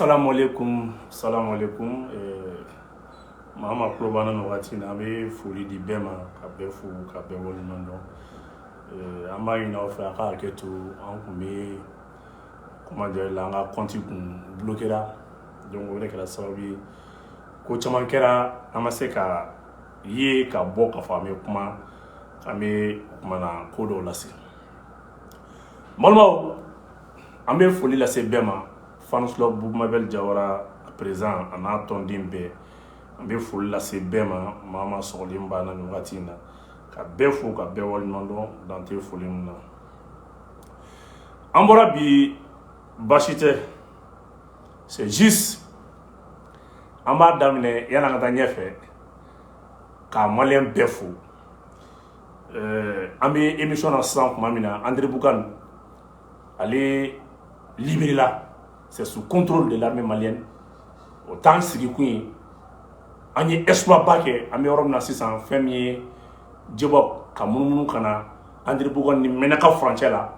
Salamalekum salamalekum eh, maa o maa tulo b'an na nin wagati in na an bɛ foli di bɛɛ ma ka bɛɛ fo ka bɛɛ waleɲuman dɔn eh, an b'a ɲini aw fɛ a ka hakɛto an kun bɛ comment dire là an ka kɔnti kun bloquéra donc o de kɛra sababu ye ko caman kɛra an ma se ka ye ka bɔ k'a fɔ an bɛ kuma an bɛ kumana ko dɔw lase balimaw an bɛ foli lase bɛɛ ma fans club Boubou Mabel Diawara a président a n'a tɔnden bɛɛ an bɛ foli lase bɛɛ ma maa o maa sɔgɔlen b'an na nin wagati in na ka bɛɛ fo ka bɛɛ waleɲuman dɔn dan tɛ foli min na an bɔra bi baasi tɛ c'est juste an b'a daminɛ yani an ka taa ɲɛfɛ ka maliyɛn bɛɛ fo euh, an bɛ émission na sisan tuma min na Andéramboukane ale libéré la c'est sous contrôle de l'armée malienne o t'an sigikun ye an ye exploit ba kɛ an bɛ yɔrɔ min na sisan fɛn min ye Djebock ka munumunu ka na Andéramboukane ni Ménaka furancɛ la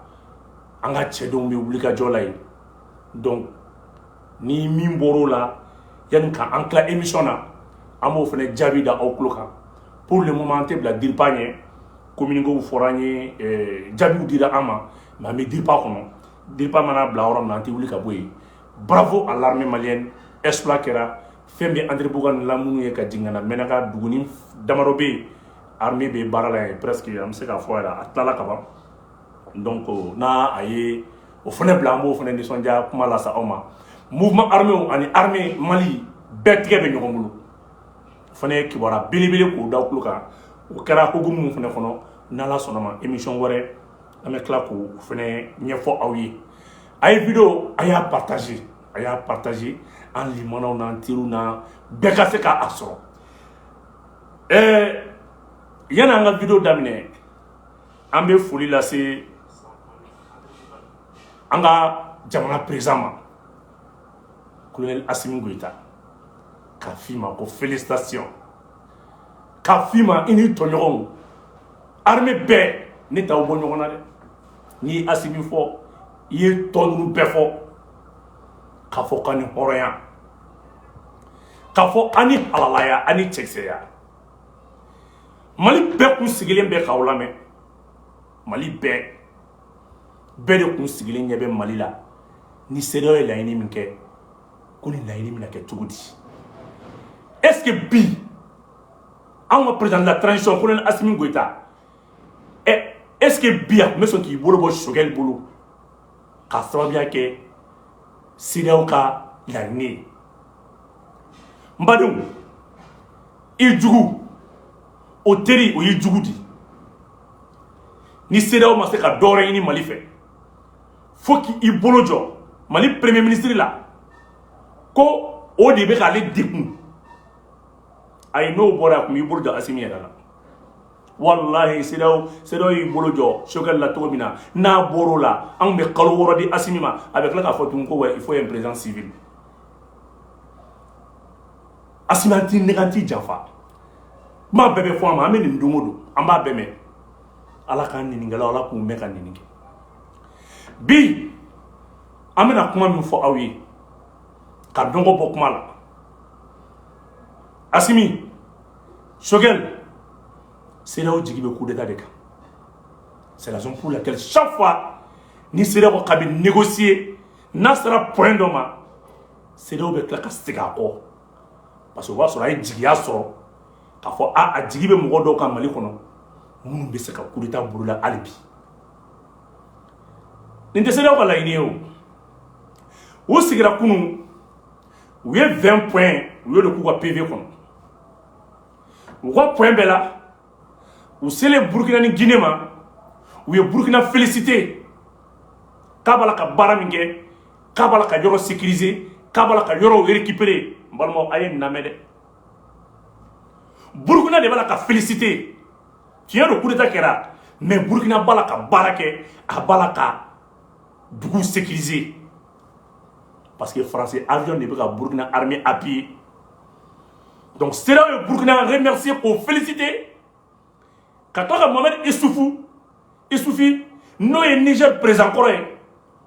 an ka cɛdenw bɛ wulikajɔ la yen donc ni min bɔr'o la yanni ka an tila émission na an b'o fana jaabi da aw tulo kan pour le moment an tɛ bila DIRPA ɲɛ communiquéw fɔra an ye jaabiw dira an ma mais an bɛ DIRPA kɔnɔ DIRPA mana bila yɔrɔ min na an tɛ wuli ka bɔ yen bravo à l'armée malienne exploit kɛra fɛn bɛ Andéramboukane lamini ye ka jigin ka na Ménaka duguni damadɔ bɛ yen armée bɛ baara la yen presque an bɛ se k'a fɔ yɛrɛ a tilala ka ban donc n'a a ye o fana bila an b'o fana nisɔndiya kuma lase aw ma mouvement arméw ani armée mali bɛɛ tigɛ bɛ ɲɔgɔn bolo o fana ye kibaruya belebele k'o da aw kulo kan o kɛra hukumu min fana kɔnɔ n'Ala sɔnn'a ma émission wɛrɛ an bɛ tila k'o fana ɲɛfɔ aw ye a ye vidéo a y'a partagé a y'a partagé an limaanaw n'an teriw na bɛɛ ka se k'a sɔrɔ ɛɛ yani an ka vidéo daminɛ an bɛ foli lase an ka jamana président ma colonel Assimi Goïta k'a f' i ma ko félicitations k'a f'i ma i n'i tɔɲɔgɔnw arme bɛɛ ne t'aw bɔ ɲɔgɔn na dɛ n'i ye asimi fɔ i ye tɔ ninnu bɛɛ fɔ k'a fɔ k'a ni hɔrɔnya k'a fɔ a ni halalaya a ni cɛkisɛya mali bɛɛ kun sigilen bɛ k'aw lamɛn mali bɛɛ bɛɛ de kun sigilen ɲɛ bɛ mali la ni sedeyaw ye laɲini min kɛ ko nin laɲini bɛna kɛ cogo di est ce que bi anw ka président de la transition colonel asimi goyita ɛ est ce que bi a tun bɛ sɔn k'i bolo bɔ sogɛli bolo k'a sababuya kɛ sedeyaw ka laɲini ye n badenw i jugu o teri o y'i jugu di ni sedeyaw ma se ka dɔwɛrɛ ɲini mali fɛ fo k'i bolo jɔ mali premier ministre la ko o de bɛ k'ale degun ayi n'o bɔra a kun b'i bolo jɔ asimi yɛrɛ la walahi sedeyaw sedeyaw y'i bolo jɔ sokɛli la cogo min na n'a bɔr'o la a bɛ kalo wɔɔrɔ di asimi ma a bɛ tila k'a fɔ tugun ko ouais il faut un président civil asimi an t'i nɛgɛn an t'i janfa kuma bɛɛ bɛ fɔ an ma an bɛ nin don o don an b'a bɛɛ mɛn ala k'an ɲininikɛlaw ala k'u mɛn ka ɲini kɛ bi an bɛna kuma min fɔ aw ye ka dɔgɔ bɔ kuma la asimi sokɛli sedeyaw jigi bɛ kudeta de kan c'est la raison pour laquelle chaque fois ni sedeyaw ko k'a bɛ négocier n'a sera point dɔ ma sedeyaw bɛ tila ka segin a kɔ parce que o b'a sɔrɔ a ye jigiya sɔrɔ k'a fɔ a a jigi bɛ mɔgɔ dɔw kan mali kɔnɔ minnu bɛ se ka kudeta boloda hali bi nin tɛ sedeyaw ka laɲini ye o u sigira kunun u ye vingt points u y'o de k'u ka pv kɔnɔ u ka point bɛɛ la u selen burukina ni gine ma u ye burukina féliciter k'a b'a la ka baara min kɛ k'a b'a la ka yɔrɔ sécuriser k'a b'a la ka yɔrɔw récupérer n balimaw a ye n lamɛn dɛ burukina de b'a la ka féliciter tiɲɛ don kudeta kɛra mais burukina b'a la ka baara kɛ a b'a la ka dugu sécuriser parce que faransi avion de bɛ ka burukina armée appuyer donc sedeyaw ye burukina remercier k'o féliciter ka tila ka mohamed isufu isufu n'o ye niger président kɔrɔ ye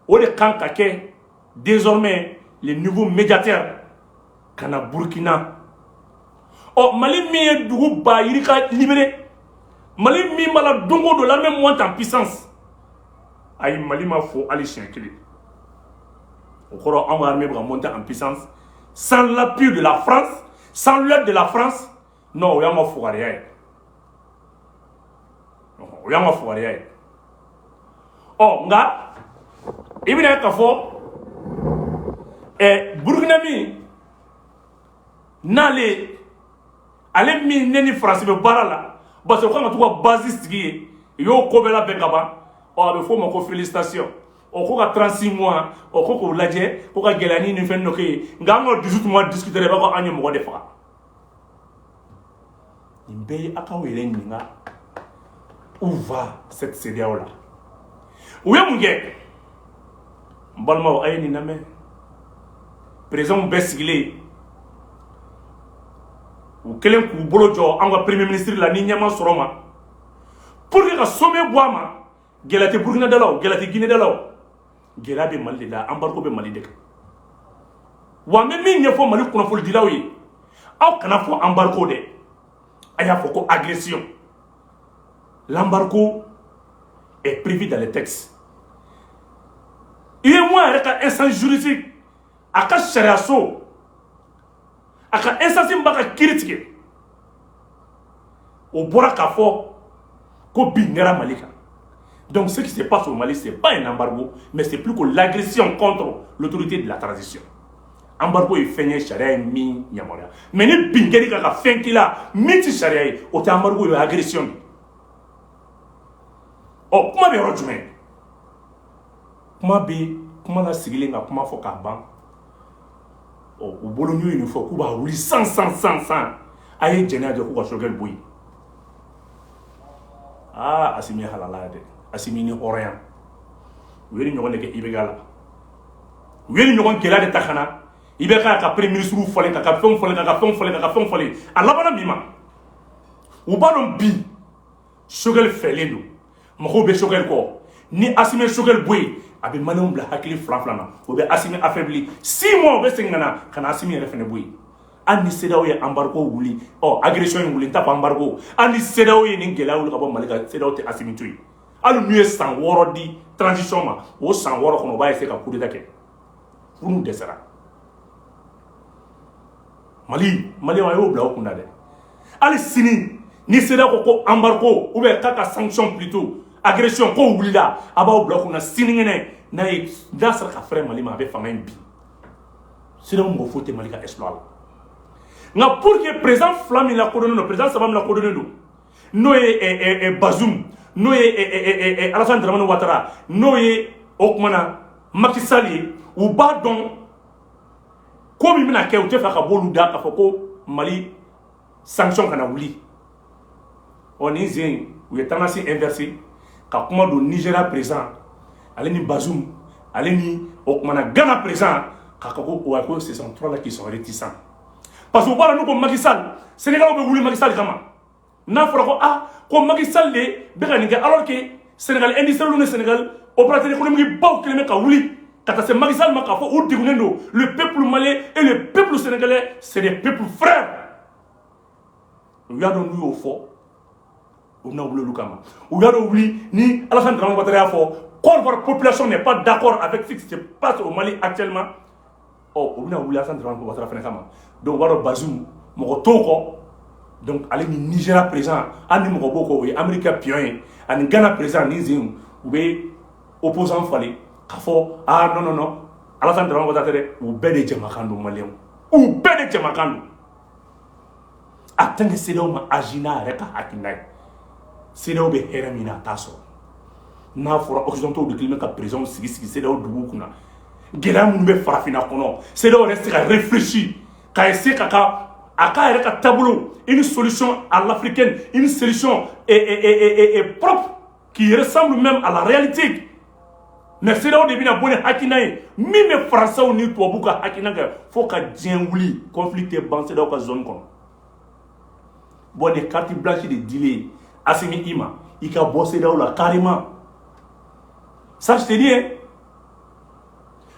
o de kan ka kɛ désormais le nouveau médiateur ka na burkina ɔ mali min ye dugu ba yirika libérer mali min b'a la don o don l'armée monte en puissance ayi mali ma fo hali siɲɛ kelen o kɔrɔ anw ka armée bɛ ka monter en puissance sans l'appui de la france sans l'aide de la france non o y'an ka fugariya ye o y'an ka fugariya ye ɔ nka i bɛna ye k'a fɔ ɛɛ burukina min n'ale ale min ne ni faransi bɛ baara la parce que o kan ka to ka bazi sigi yen u y'o ko bɛɛ labɛn ka ban ɔ a bɛ f'o ma ko félicitation o ko ka 36 mois o ko k'o lajɛ ko ka gɛlɛya ni nin fɛn dɔ kɛ yen nka an ka 18 mois discuter i b'a fɔ an ye mɔgɔ de faga nin bɛɛ ye a k'aw yɛrɛ ɲininka où va cette CEDEAO là u ye mun kɛ n balimaw a ye nin lamɛn présidents bɛɛ sigilen u kelen k'u bolo jɔ an ka premier ministre la ni ɲɛ ma sɔrɔ ma pour que ka sommet bɔ a ma gɛlɛya tɛ burukina da la o gɛlɛya tɛ gine da la o gɛlɛya bɛ mali de la anbariko bɛ mali de kan wa n bɛ min ɲɛfɔ mali kunnafonidilaw ye aw kana fɔ anbariko dɛ a y'a fɔ ko agression l'embargo est prévu dans les textes UEMOA yɛrɛ ka instance juridique a ka sariyaso a ka instance min b'a ka kiri tigɛ o bɔra k'a fɔ ko bin kɛra mali kan donc ce qui se passe au mali c'est pas un embargo mais c'est plus que l'agression contre l'autorité de la transition embargo ye fɛn ye sariya ye min yamaruya mais ni bin kɛr'i kan ka fɛn k'i la min ti sariya ye o tɛ embargo ye o ye agression de ɔ kuma bɛ yɔrɔ jumɛn kuma bɛ kuma la sigilen ka kuma fɔ k'a ban ɔ u bolo n'u ye nin fɔ k'u b'a wuli san san san san a ye jɛnɛya jɔ k'u ka sogɛli bɔ yen aa asimi ye halala dɛ asimi ni hɔrɔnya u ye nin ɲɔgɔn de kɛ IBK la u ye nin ɲɔgɔn gɛlɛya de ta ka na IBK ka premier ministre falen k'a ka fɛnw falen k'a ka fɛnw falen k'a ka fɛnw falen a labanna min ma u b'a dɔn bi sogɛli fɛlen don mɔgɔw bɛ sogɛli kɔ ni asimi ye sogɛli bɔ yen a bɛ maliyɛnw bila hakili fila fila na o bɛ asimi affaibli 6 mois o bɛ segin ka na ka na asimi yɛrɛ fana bɔ yen hali ni CEDEAO ye anbariko wuli ɔ agression in wuli n t'a fɔ anbariko hali ni CEDEAO ye nin gɛlɛya wuli ka bɔ mali kan CEDEAO tɛ asimi to yen hali n'u ye san wɔɔrɔ di transition ma o san wɔɔrɔ kɔnɔ o b'a essayer ka kudeta kɛ fo n'u dɛsɛra maliyɛnw a y'o bila aw kunna dɛ hali sini ni CEDEAO ko ko embargo ou bien k'a ka sanction plutôt agression ko wulila a b'aw bila kunna sinikɛnɛ n'a ye n'a sera ka fɛrɛ mali ma a bɛ fanga in bin CEDEAO mɔgɔ foyi tɛ mali ka exploit la nka pour que président fila min lakodɔnnen don président saba min lakodɔnnen don n'o ye bazum n'o ye alasan dramani watara n'o ye o kumana maki sali ye u b'a dɔn ko min bɛna kɛ u tɛ fɛ ka b'olu da k'a fɔ ko mali sanction kana wuli ɔ nin sen in u ye tendance inversé ka kuma don nigéria président ale ni Bazoum ale ni o kumana Ghana président k'a ka ko a ko ce sont 3 là qui sont réticents parce que u b'a dɔn n'u ko Macky Sall sénégalais bɛ wuli Macky Sall kama n'a fɔra ko ah ko Macky Sall de bɛ ka nin kɛ alors que Sénégal industriel ni Sénégal opérateur économique baw kelen bɛ ka wuli ka taa se Macky Sall ma k'a fɔ u degunnen don le peuple malien et le peuple sénégalais c'est des peuples frères u y'a dɔn n'u y'o fɔ u bɛna wuli olu kama u y'a dɔn wuli ni Alassane Dramane Ouattara y'a fɔ Côte d'Ivoire population n'est pas d'accord avec ce qui se passe au Mali actuellement ɔ u bɛna wuli Alassane Dramane Ouattara fana kama donc u b'a dɔn Bazoum mɔgɔ t'o kɔ donc ale ni Nigéria président hali ni mɔgɔ b'o kɔ o ye Amérique ka pion ye ani Ghana président nin sen u bɛ opposant falen k'a fɔ ah non non non Alassane Dramane Ouattara tɛ dɛ u bɛɛ de jɛmakan don maliyɛnw u bɛɛ de jɛmakan don a tɛ ni sew ma az n'a yɛrɛ ka hakiina ye se bɛ hɛrɛ min na a t'a sɔrɔ n'a fɔra osɔntɔw bɛ kelen bɛ ka perezw sigi sigi sew dugu kunna gɛlɛya minnu bɛ farafinna kɔnɔ se yɛrɛ se kafisi ka se ka ka a k'a yɛrɛ ka taabolo i ni solisɔn a lafiri kɛ i ni selic pap qui ressemble même à la réalité mais CEDEAO de bɛna bɔ ni hakilina ye min bɛ faransaw ni tubabuw ka hakilina kɛ fo ka diɲɛ wuli conflit tɛ ban CEDEAO ka zone kɔnɔ bon ni carte blanche de dilen Assimi i ma i ka bɔ CEDEAO la carrément ça je te dis hein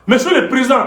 monsieur le président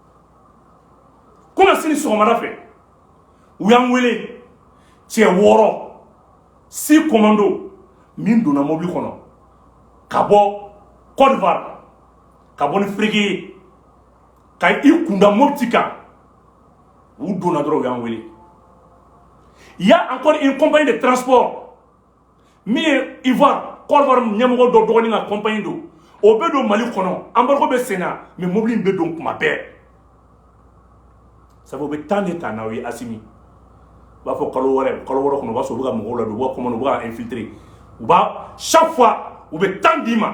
komi sini sɔgɔmada fɛ u y'an wele cɛ wɔɔrɔ six commandos min donna mobili kɔnɔ ka bɔ Côte d'Ivoire ka bɔ ni Ferké ye ka i kunda Mopti kan u donna dɔrɔn u y'an wele il y a encore une compagnie de transport min ye ivoire Côte d'Ivoire ɲɛmɔgɔ dɔ dɔgɔnin ka compagnie don o bɛ don mali kɔnɔ embargo bɛ senna mais mobili in bɛ don kuma bɛɛ sabu u bɛ temps de ta n'aw ye Assimi u b'a fɔ kalo wɛrɛ kalo wɔɔrɔ kɔnɔ u b'a sɔrɔ u bɛ ka mɔgɔw ladon u b'a comment u b'a infiltrer u b'a chaque fois u bɛ temps d'i ma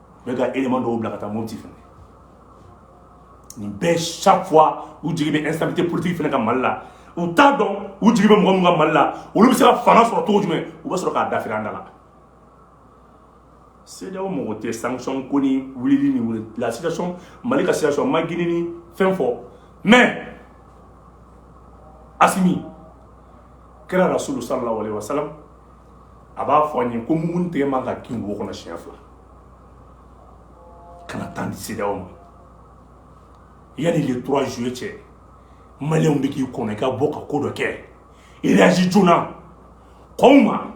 bɛ ka élément dɔw bila ka taa Mopti fɛnɛ nin bɛɛ chaque fois u jigi bɛ instabilité politique fɛnɛ kan Mali la u t'a dɔn u jigi bɛ mɔgɔ min kan Mali la olu bɛ se ka fanga sɔrɔ cogo jumɛn u bɛ sɔrɔ k'a dafiri an da la CEDEAO mɔgɔ tɛ sanction kɔni wulili ni wuli la situation Mali ka situation ma Guinée ni fɛn fɔ mais Assimi kira Rasulu sallallahu alayhi wa sallam a b'a fɔ an ye ko mumini tɛgɛ man ka kin wo kɔnɔ siɲɛ fila kana temps di sedeyaw ma yanni le 3 juillet cɛ maliyɛnw bɛ k'i kɔnɔ i ka bɔ ka ko dɔ kɛ réagi joona kow ma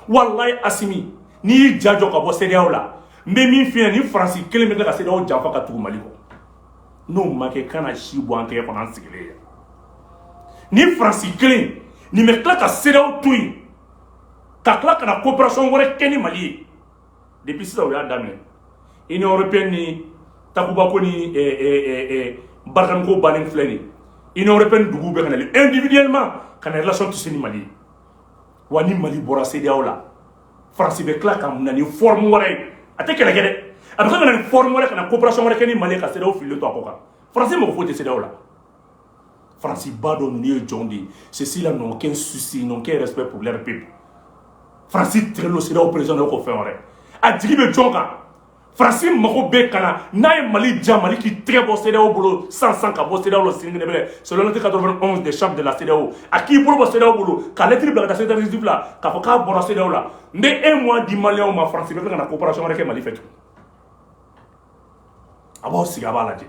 walayi asimi n'i y'i ja jɔ ka bɔ sedeyaw la n bɛ min f'i ɲɛna ni faransi kelen bɛ tila ka sedeyaw janfa ka tugu mali kɔ n'o ma kɛ ka na si bɔ an tɛgɛ kɔnɔ an sigilen yan ni faransi kelen nin bɛ tila ka sedeyaw to yen ka tila ka na coopération wɛrɛ kɛ ni mali ye depuis sisan u y'a daminɛ union européenne ni takuba ko ni eh, eh, eh, barikani ko bannen filɛ nin union européenne duguw bɛ ka na individuellement ka na relation tisser ni mali ye wa ni mali bɔra sedeyaw la faransi bɛ tila ka na ni forme wɛrɛ ye a tɛ kɛlɛ kɛ dɛ a bɛ tila ka na ni forme wɛrɛ ka na coopération wɛrɛ kɛ ni mali ye ka sedeyaw fililen to a kɔ kan faransi mago foyi tɛ sedeyaw la faransi b'a dɔn ninnu ye jɔn de ye ceux-ci là n'ont aucun souci n'ont aucun respect pour leur peuple faransi tigɛlen sedeyaw président dɔ ko fɛn wɛrɛ a jigi bɛ jɔn kan faransi mago bɛ ka na n'a ye mali ja mali k'i tɛgɛ bɔ sedeyaw bolo san san ka bɔ sedeyaw la sinikɛnɛ bɛlɛ selon l'article 91 des chartes de la sedeyaw a k'i bolo bɔ sedeyaw bolo ka lɛtiri bila ka taa sedeyaw exécutif la k'a fɔ k'a bɔra sedeyaw la n bɛ un mois di maliyɛnw ma faransi b'a fɛ ka na coopération wɛrɛ kɛ mali fɛ tugun a b'aw sigi a b'a lajɛ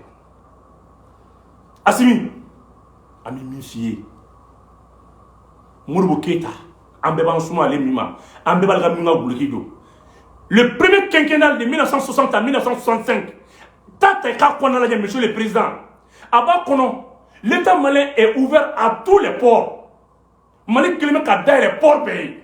asimi an bɛ min f'i ye modibo keyita an bɛɛ b'an suma ale min ma an bɛɛ b'ale ka min ka duloki don le premier quinquennal de 1960 à 1965 ta ta i k'a kɔnɔna lajɛ monsieur le président a b'a kɔnɔ l'état malien est ouvert à tous les ports mali kelen bɛ ka dayɛlɛ port bɛɛ ye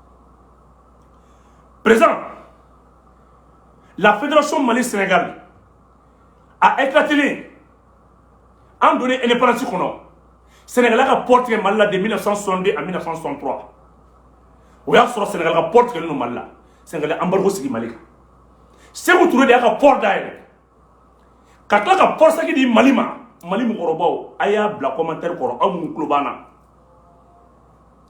perez lafetiriraso mali sɛnɛgali a etatilen an don e pasi kɔnɔ sɛnɛla ka p tigɛ mali la de bɛna san sɔnden a bɛna san sɔntura o y'a sɔrɔ sɛnɛga ka p tigɛ don mali la sɛnɛ anbari sigi mali kan segu tun de y'a ka p da yɛrɛ ka tila ka port sec di mali ma mali mɔgɔkɔrɔbaw a y'a bila commentaire kɔrɔ aw minnu tulo b'an na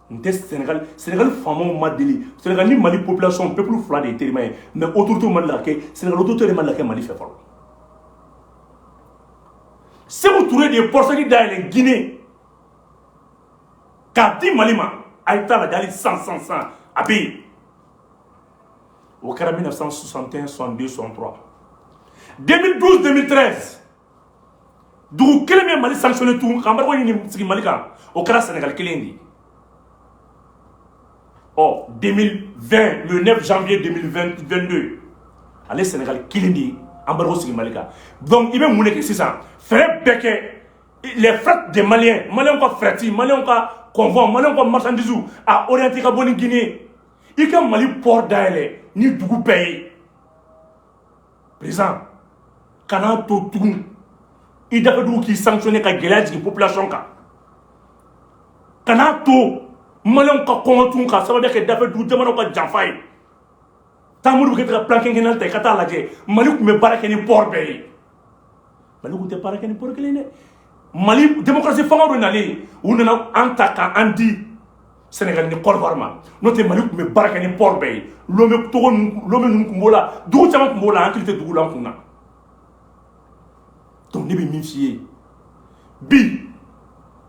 n tɛ senegali senegali faamaw ma deli senegali ni mali population pepulu fila de ye terima ye mais autorité ma laka kɛ senegali autorité de ma laka kɛ mali fɛ fɔlɔ seku ture de ye port sec dayɛlɛ guinée k'a di mali ma a ye t'a lajɛ hali san san san a bɛ yen o kɛra 1961 62 63 2012 2013 dugu kelen min ye mali sanctionné tugun ka embargo ɲini sigi mali kan o kɛra sénégal kelen de ye ɔ 2020 le 9 janvier 2022 ale sénégal kelen de ye embargo sigi mali kan donc i bɛ mun de kɛ sisan fɛɛrɛ bɛɛ kɛ les frets des maliens maliens ka fret maliens ka convoi maliens ka marchandises a orienté ka bɔ ni guinée i ka mali pɔri dayɛlɛ ni dugu bɛɛ ye président kana to tugun i dafɛdugu k'i sanctionné ka gɛlɛya jigin population kan kana to maliyɛnw ka kɔngɔ tugun ka sababuya kɛ dafɛ dugu jamanaw ka janfa ye taa modibo keita ka plan quinquennal ta i ka taa lajɛ mali tun bɛ baara kɛ ni pɔri bɛɛ ye mali tun tɛ baara kɛ ni pɔri kelen dɛ mali demokarasi fanga dɔ nalen u nana an ta ka an di sɛnɛgali ni kɔdiwari ma n'o tɛ mali tun bɛ baara kɛ ni pɔri bɛɛ ye lome togo lome ninnu tun b'o la dugu caman tun b'o la an hakili tɛ dugu la an kun na donc ne bɛ min f'i ye bi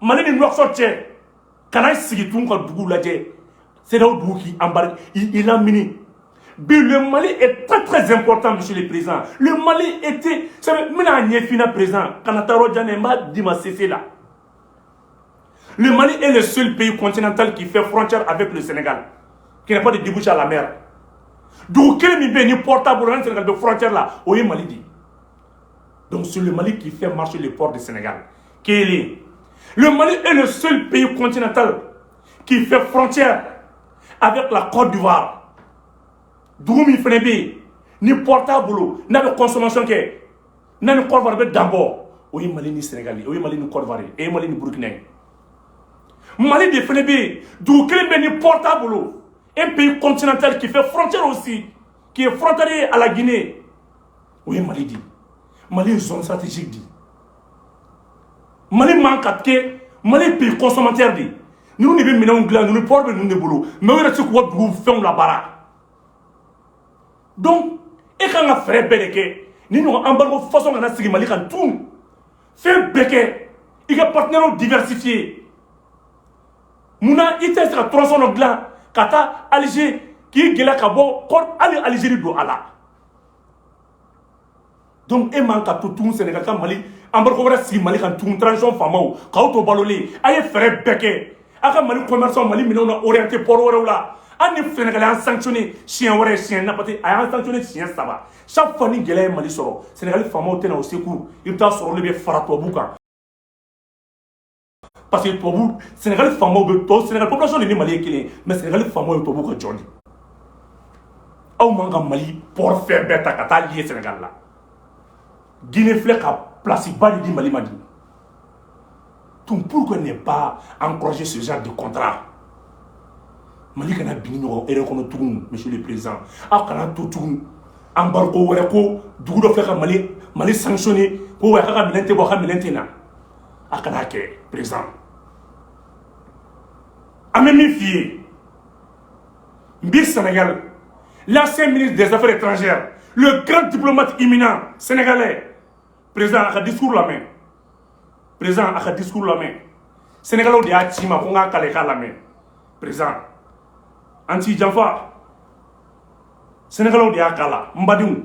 mali ni nouakchott cɛ kana sigi tun ka dugu lajɛ cedeao dugu k'i embargo i lamini bi le mali est très très important monsieur le président le mali était sabu n bɛna ɲɛfina président kana taa yɔrɔ jan dɛ n b'a d'i ma sese la le mali est le seul pays continental qui fait frontière avec le sénégal qui n'a pas de débouché à la mer dugu kelen min bɛ yen ni port t'a bolo ani sénégal bɛ frontière la o ye mali de ye donc c'est le mali qui fait marcher le port du sénégal Kelen. Le Mali est le seul pays continental qui fait frontière avec la Côte d'Ivoire. Dugu min fana bɛ ni port t'a bolo n'a bɛ consommation kɛ n'a ni Côte d'Ivoire bɛ dan bɔ o ye Mali ni Sénégal ye o ye Mali ni Côte d'Ivoire ye o ye Mali ni Burkina ye Mali de fana bɛ yen dugu kelen bɛ ni port t'a bolo un pays continental qui fait frontière aussi qui est frontalier à la Guinée o ye mali di mali ye zone stratégique di mali man ka kɛ mali pays consommateur de ninnu de bɛ minɛnw dilan ninnu port bɛ ninnu de bolo mais u yɛrɛ tɛ se k'u ka dugu fɛnw labaara donc e kan ka fɛɛrɛ bɛɛ de kɛ nin ɲɔgɔn embargo façon kana sigi mali kan tun fɛn bɛɛ kɛ i ka partenaires diversifier munna i tɛ se ka tronçon dɔ dilan ka taa alger k'i gɛlɛya ka bɔ hali algérie don a la donc e man ka to tugun sɛnɛgali ka mali embargo wɛrɛ sigi mali kan tun transition faamaw k'aw to balolen a ye fɛɛrɛ bɛɛ kɛ a ka mali commerçant mali minɛnw na orienté port wɛrɛw la yanni sɛnɛgali an sanctionné siɲɛ wɛrɛ siɲɛ napati a y'an sanctionné siɲɛ saba chaque fois ni gɛlɛya ye mali sɔrɔ sɛnɛgali faamaw tɛ na au secours i bɛ taa sɔrɔ olu bɛ fara tubabu kan parce que tubabu sɛnɛgali faamaw bɛ tɔ sɛnɛgali population de ni mali ye kelen ye mais sɛnɛgali faamaw ye tubabu ka jɔn de aw man kan ka mali pɔri fɛn bɛɛ ta ka taa lier sɛnɛgali la guinée filɛ ka place ba de di mali ma dis donc pourquoi ne pas encourager ce genre de contrat mali kana bin nin ɲɔgɔn erreur kɔnɔ tugun monsieur le président aw kana to tugun embargo wɛrɛ ko dugu dɔ fɛ ka mali mali sanctionner ko wɛrɛ k'a ka minɛn tɛ bɔ a ka minɛn tɛ na a kana kɛ président an bɛ min f'i ye n bi sɛnɛgali l'ancien ministre des affaires étrangères le grand diplomate éminent sénégalais président a ka discours lamɛn président a ka discours lamɛn sénégalais de y'a ci n ma ko n k'a kale k'a lamɛn président an t'i janfa sénégalais de y'a kalan n badenw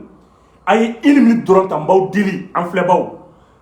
a ye une minute dɔrɔn ta n b'aw deli an filɛbaw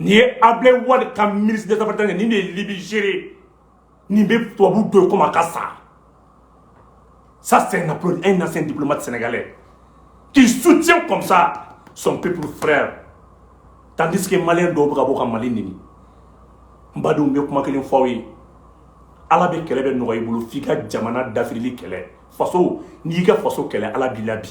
nin ye ablaye wade ka ministre des affaires étrangères nin de ye libye gérer nin bɛ tubabu dɔn comme a ka sa ça c'est un applaudi un ancien diplomate sénégalais qui soutient comme ça son peuple frère tandis que malien dɔw bɛ ka bɔ ka mali nɛni n badenw n bɛ kuma kelen fɔ aw ye ala bɛ kɛlɛ bɛɛ nɔgɔya i bolo f'i ka jamana dafirili kɛlɛ faso n'i y'i ka faso kɛlɛ ala b'i labin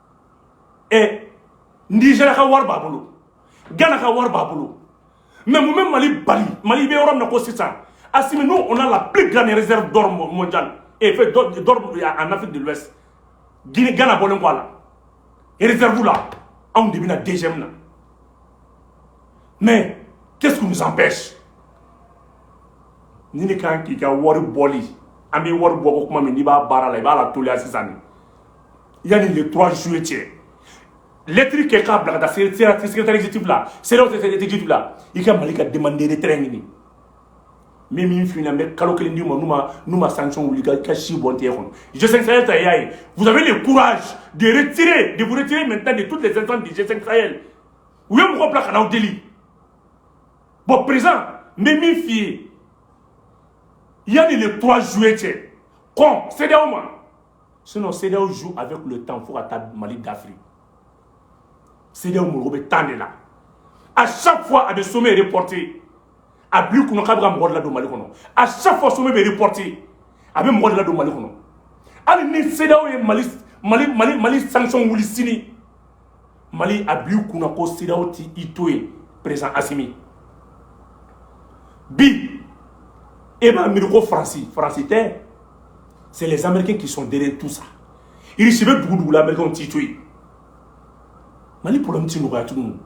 ɛ nigeria ka wari b'a bolo gana ka wari b'a bolo mais mun bɛ mali bali mali bɛ yɔrɔ min na ko sisan asimi nous on a la plus grande réserve d'or mondiale enfin d'or en Afrique de l'Ouest Guinée Ghana bɔlen kɔ a la réserve la anw de bɛ na deuxième na mais qu'est-ce qui nous empêche ni ne kan k'i ka wari bɔli an bɛ wari bɔ ko kuma min n'i b'a baara la i b'a lateliya sisan de yanni le trois juillet cɛ lɛtiri kɛ k'a bila ka taa secrétaire exécutif la CEDEAO secrétaire exécutif la i ka mali ka demande de retrait ɲini min min finna n bɛ kalo kelen d'i ma n'u ma n'u ma sanction wuli ka si bɔ n tɛgɛ kɔnɔ g5 sahel ta y'a ye vous avez le courage de retirer de vous retirer maintenant de toutes les instances du g5 sahel u ye mɔgɔ bila ka n'aw deli bon président n bɛ min f'i ye yanni le 3 juillet cɛ kɔn CEDEAO ma sinon CEDEAO joue avec le temps fo ka taa Mali dafiri CEDEAO mago bɛ temps de la à chaque fois a bɛ sommet reporté a b'i kunna k'a bɛ ka mɔgɔ de ladon Mali kɔnɔ à chaque fois sommet bɛ reporté a bɛ mɔgɔ de ladon Mali kɔnɔ hali ni CEDEAO ye Mali Mali Mali Mali sanction wuli sini mali a bil'i kunna ko cedeao tɛ i to yen perezan asimi bi e b'a miiri ko faransi faransi tɛ c'est les américains qui sont derrière tout ça irisi bɛ dugu dugu la américains t'i to yen mali problème ti nɔgɔya tugun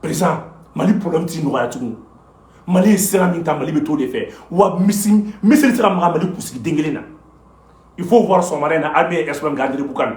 perezan mali problème ti nɔgɔya tugun mali ye sira min ta mali bɛ t'o de fɛ wa mɔgɔ si tɛ se ka maga mali kunsigi den kelen na il faut voir sɔgɔmada in na armée ye espoir k'a diri bukan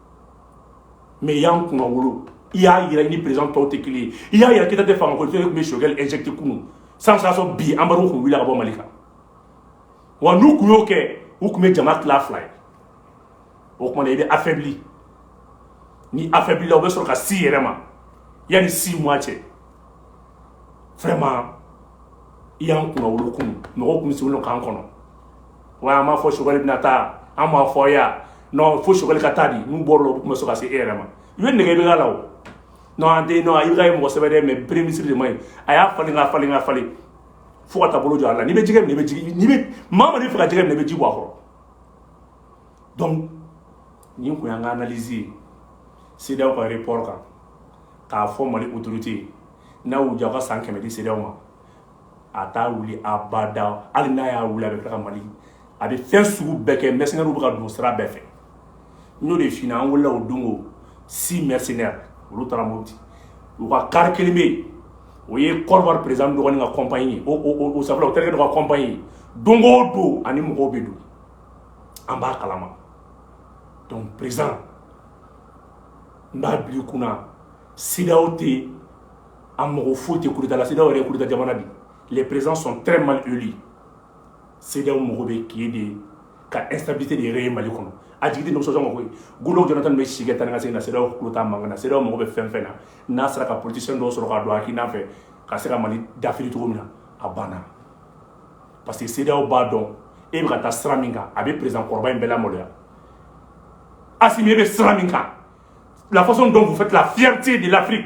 mais i y'an kunnawolo i y'a yira i ni perezan tɔw tɛ kelen ye i y'a yira k'i ta tɛ fanga ko tun bɛ sokɛ ezti kun sanction bi embargo tun wuli ka bɔ mali kan wa n'u tun y'o kɛ u tun bɛ jama tila fila ye o tuma i bɛ affaibli n'i affaiblila u bɛ sɔrɔ ka s'i yɛrɛ ma yanni six mois cɛ vraiment i y'an kunnawolo kun mɔgɔ tun bɛ se k'an kɔnɔ Wa an b'a fɔ choguel bɛna taa an b'a fɔ yan fo choguel ka taa di n'u bɔra o la u tun bɛ sɔrɔ ka se e yɛrɛ ma i bɛ nɛgɛ bɛ la o an tɛ nɔ i ye mɔgɔ sɛbɛ mais premier ministre de ma ye a y'a falen ka falen ka falen fo ka taa bolo jɔ a la n'i bɛ jɛgɛ bɛ jɛgɛ maa b'a fɛ ka jɛgɛ minɛ i bɛ ji bɔ a kɔrɔ donc nin tun an ka analyse ye cedeao ka report kan k'a fɔ mali autorité ye n'a y'u jɔ ka san kɛmɛ di cedeao ma a t'a wuli abada hali n'a y'a wuli a bɛ ka mali a bɛ fɛn sugu bɛɛ kɛ mercenaires bɛ ka don sira bɛɛ fɛ n'o de fina an wulila o don six mercenaires olu taara mɔti u ka kari kelen bɛ yen o ye kɔdiwari perezan dɔgɔnin ka compagnie ye o sabula o terikɛ dɔ ka compagnie ye don o don ani mɔgɔw bɛ don an b'a kalama donc perezan n b'a bil'i kunna cedeao tɛ yen a mɔgɔ foyi tɛ kurutalasi yɛrɛ kuruta jamana de le perez sɔn tɛ mali joli sew mɔgɔ bɛ tile de ye ka ɛsabise de yɛrɛ ye mali kɔnɔ a jigin ni nisɔnsɔn mako golo jɔn tan bɛ si tan ka se na sew ku tan man na se mɔgɔ bɛ fɛn fɛn na n'a sera ka ptese dɔw sɔrɔ k'a don a k'ina fɛ ka se ka mali dafiri cogo min na a banna parce que sew b'a dɔn e bɛ ka taa sira min kan a bɛ perez kɔrɔba in bɛɛ la maloya a e bɛ sira min kan lafasɔn dɔw fɛ tila fite de lafi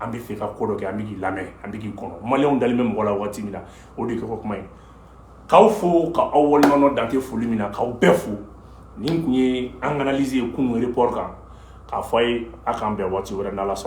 an bɛ fɛ ka ko dɔ kɛ an bɛ k'i lamɛn an bɛ k'i kɔnɔ maliens dalen bɛ mɔgɔ la waati min na o de kɛ kɔ kuma ye k'aw fo ka aw waleɲumandɔn dan tɛ foli min na k'aw bɛɛ fo nin tun ye an ka analyse ye kunun report kan k'a fɔ aw ye a k'an bɛn waati wɛrɛ n'ala sɔnna